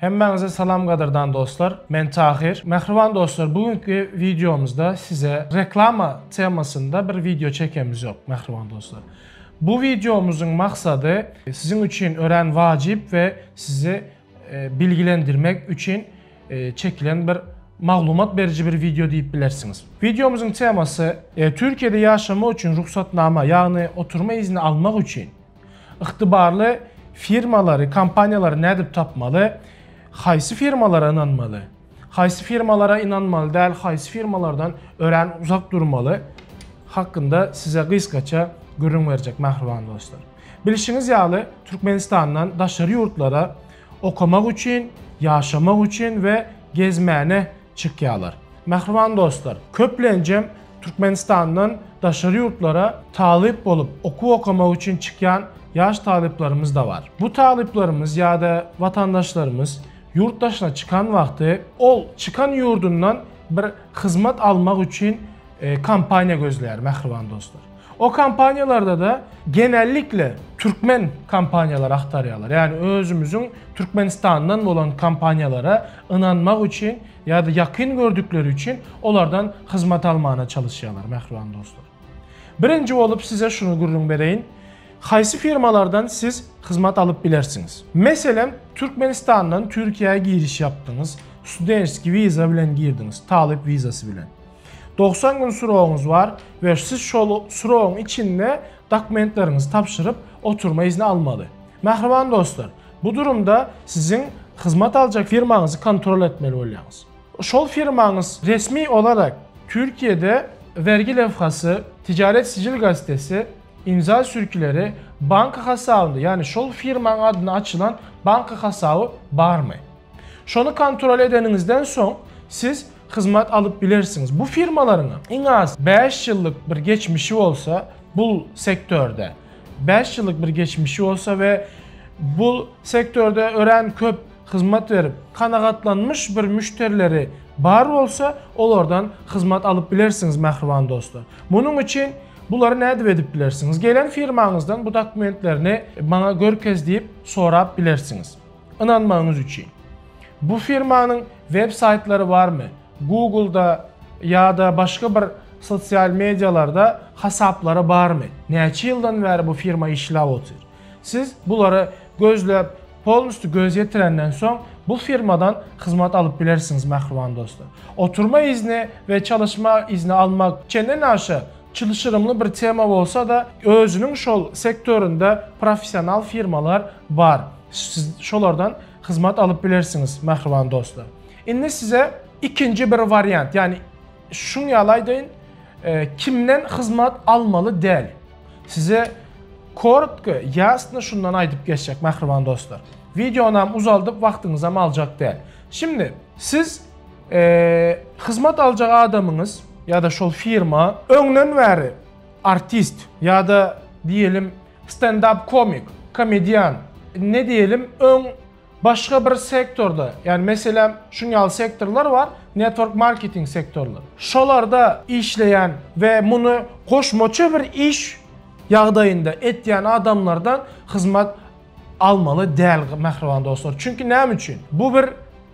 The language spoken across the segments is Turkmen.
Hemmäňize salam gadyrdan dostlar, men Tahyr. Mähriban dostlar, bu günki wideomyzda size reklama temasynda bir wideo çekemiz ýok, mähriban dostlar. Bu wideomyzyň maksady siziň üçin örän wajyp we sizi bilgilendirmek üçin çekilen bir maglumat beriji bir wideo diýip bilersiňiz. Wideomyzyň temasy, Türkiýede ýaşamak üçin rugsatnama, ýagny oturma izni almak üçin, Ygtybarly firmalary, kompaniýalary nädip tapmaly? Haýsy firmalara ynanmaly? Haýsy firmalara ynanmaly däl, haýsy firmalardan örän uzak durmaly? Hakynda size gysgaça gürrüň berjek mähriban dostlar. Bilşiňiz ýaly, Türkmenistandan daşary ýurtlara okamak üçin, ýaşamak üçin we gezmäne çykýarlar. Mähriban dostlar, köplenjem Türkmenistandan daşary ýurtlara talyp bolup, okuw okamak üçin çykýan ýaş talyplarymyz-da bar. Bu talyplarymyz ýa-da watandaşlarymyz ýurt daşyna çykan wagty, ol çykan ýurdundan bir hyzmat almak üçin kompaniýa gözleýär, mähriban dostlar. O kompaniýalarda-da genellikle türkmen kompaniýalary agtarýarlar. Ýagny özümiziň Türkmenistandan bolan kompaniýalara ynanmak üçin ýa-da ýakyn gördükleri üçin olardan hyzmat almana çalyşýarlar, mähriban dostlar. Birinji bolup size şuny gürrüň bereýin, haýsy firmalardan siz hyzmat alyp bilersiňiz? Meselem, Türkmenistandan Türkiýä giriş ýapdyňyz, studentskiý wiza bilen girdiňiz, talyp wizasy bilen. Dogsan gün srogyňyz bar we siz şol srogyň içinde dokumentleriňizi tabşyryp, oturma izni almaly. Mähriban dostlar, bu durumda siziň hyzmat aljak firmaňyzy kontrol etmeli bolýaňyz. Şol firmaňyz resmi olarek Türkiýede wergi lewhasy, ticaret sicil gazetesi, imza sürkileri, banka hasabynda, ýagny şol firmaň adyna açylan banka hasaby barmy? Şony kontrol edeniňizden soň siz hyzmat alyp bilersiňiz. Bu firmalaryň iň az bäş ýyllyk bir geçmişi bolsa, bu sektorda bäş ýyllyk bir geçmişi bolsa we bu sektorda örän köp hyzmat berip, kanagatlanmyş bir müşderileri bar bolsa, olardan hyzmat alyp bilersiňiz, mähriban dostlar. Munuň üçin bulary nädip edip bilersiňiz? Gelen firmaňyzdan bu dokumentlerini maňa görkez diýip sorap bilersiňiz. Ynanmagyňyz üçin. Bu firmanyň web saýtlary barmy? Google-da ýa-da başga bir sosial medialarda hasaplary barmy? Näçe ýyldan bäri bu firma işläp otyr? Siz bulary gözläp, polnistü göz ýetirenden soň bu firmadan hyzmat alyp bilersiňiz mähriban dostlar. Oturma izni we çalyşma izni almak çenden aşa çylşyrymly bir tema bolsa-da özüniň şol sektorynda professional firmalar bar. Siz şolardan hyzmat alyp bilersiňiz, mähriban dostlar. Indi size ikinji bir wariant, ýagny şuň ýaly aýdaýyn, e, kimden hyzmat almaly däl? Size korotko, ýasny şundan aýdyp geçjek, mähriban dostlar. Wideony hem uzaldyp, wagtyňyzy hem aljak däl. Şimdi, siz e, hyzmat aljak adamyňyz ýa-da şol firma öňden bäri artist ýa-da diýelim Stendap komik, komedian, ne diýelim, öň başga bir sektorda, ýagny meselem şuň ýaly sektorlar bar, network marketing sektorlar. Şolarda işleýän we muny goşmaça bir iş ýagdaýynda etýän adamlardan hyzmat almaly däl mähriban dostlar. Çünki näme üçin? Bu bir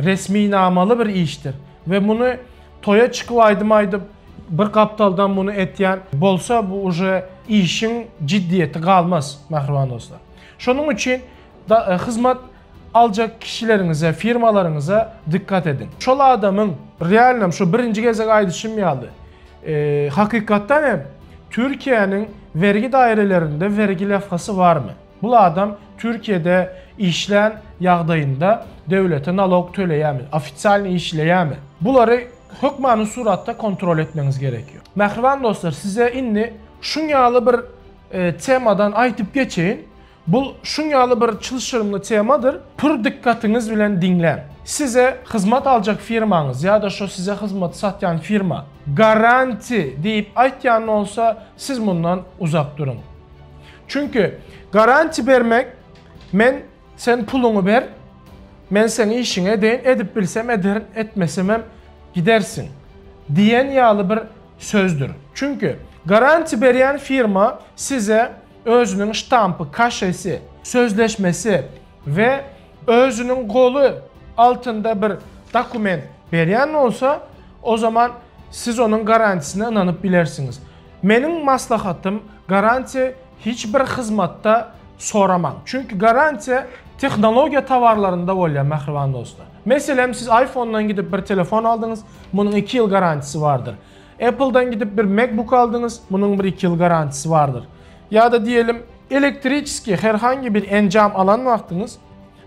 resminamaly bir işdir we muny toýa çykyp aýdym aýdyp bir gapdaldan muny etýän bolsa bu uje işiň jiddiýeti galmaz mähriban dostlar. Şonuň üçin hyzmat aljak kişileriňize, firmalaryňyza dykgat ediň. Şol adamyň realnam şu birinji gezek aýdyşym ýaly hakykatdan hem Türkiýäniň wergi daýrelerinde wergi lewhasy barmy? Bul adam Türkiýede işlän ýagdaýynda döwlete nalog töleýärmi, ofitsialnyý işleýärmi? Bulary hökmany suratda kontrol etmeňiz gerek. Mähriban dostlar, size indi şuň ýaly bir temadan aýdyp geçeýin. Bul şuň ýaly bir çylşyrymly temadyr. Pür dykgatyňyz bilen diňläň. Size hyzmat aljak firmaňyz ýa-da şo size hyzmaty satýan firma garanti diýip aýtýan bolsa, siz mundan uzak duruň. Çünki garanti bermek men sen puluňy ber, men seň işiňi edeýin, edip bilsem ederin, etmesemem gidersiň diýen ýaly bir sözdür. Çünki garanti berýän firma size özüniň ştampy, kaşesi, sözleşmesi we özüniň goly altynda bir dokument berýän bolsa, o zaman siz onuň garantiýasyna ynanyp bilersiňiz. Meniň maslahatym garantiýa hiç bir hyzmatda soramaň. Çünki garantiýa tehnologiýa towarlarynda bolýar mähriban dostlar. Meselem siz iPhone-dan gidip bir telefon aldyňyz, munuň iki ýyl garantiýasy bardyr. Apple-dan gidip bir MacBook aldyňyz, munuň bir iki ýyl garantisy bardyr. Ýa-da diýelim, elektriçeskiý her hangi bir enjam alan wagtyňyz,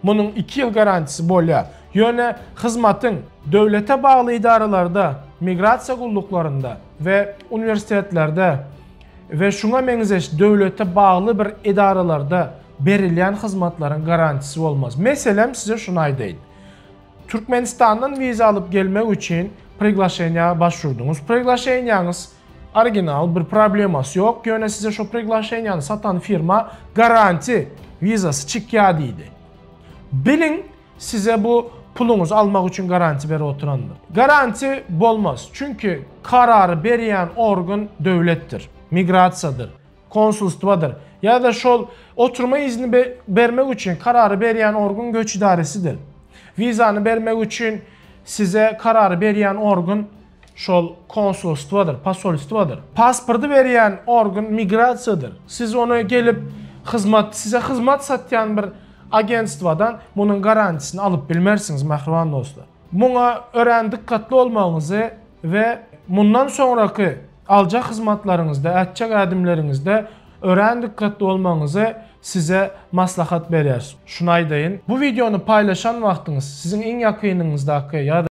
munuň iki ýyl garantisy bolýar. Ýöne hyzmatyň döwlete bagly edaralarda, migrasiýa gulluklarynda we uniwersitetlerde we şuňa meňzeş döwlete bagly bir edaralarda berilýän hyzmatlaryň garantisy bolmaz. Meselem, size şuny aýdaýyn. Türkmenistandan wiza alyp gelmek üçin priglaşeniýa baş urdyňyz. Priglaşeniýaňyz original, bir problemasy ýok, ýöne size şo priglaşeniýany satan firma garanti wizasy çykýar diýdi. Biliň, size bu puluňyzy almak üçin garanti berip oturandyr. Garanti bolmaz, çünki karary berýän organ döwletdir, migrasiýadyr. konsulstwadyr, ýa-da şol oturma izni bermek üçin karary berýän organ göç idaresidir. Wizany bermek üçin size karary berýän organ şol konsulstwadyr, posolstwadyr. Pasporty berýän organ migrasiýadyr. Siz ony gelip hyzmat, size hyzmat satýan bir agentstwadan munuň garantiýasyny alyp bilmersiňiz, mähriban dostlar. Muňa örän dykgatly bolmagyňyzy we mundan soňraky aljak hyzmatlaryňyzda, ätjek ädimleriňizde örän dykgatly bolmagyňyzy size maslahat berýäris. Şuny aýdaýyn, bu wideony paýlaşan wagtyňyz siziň iň ýakynyňyzdaky ýa-da.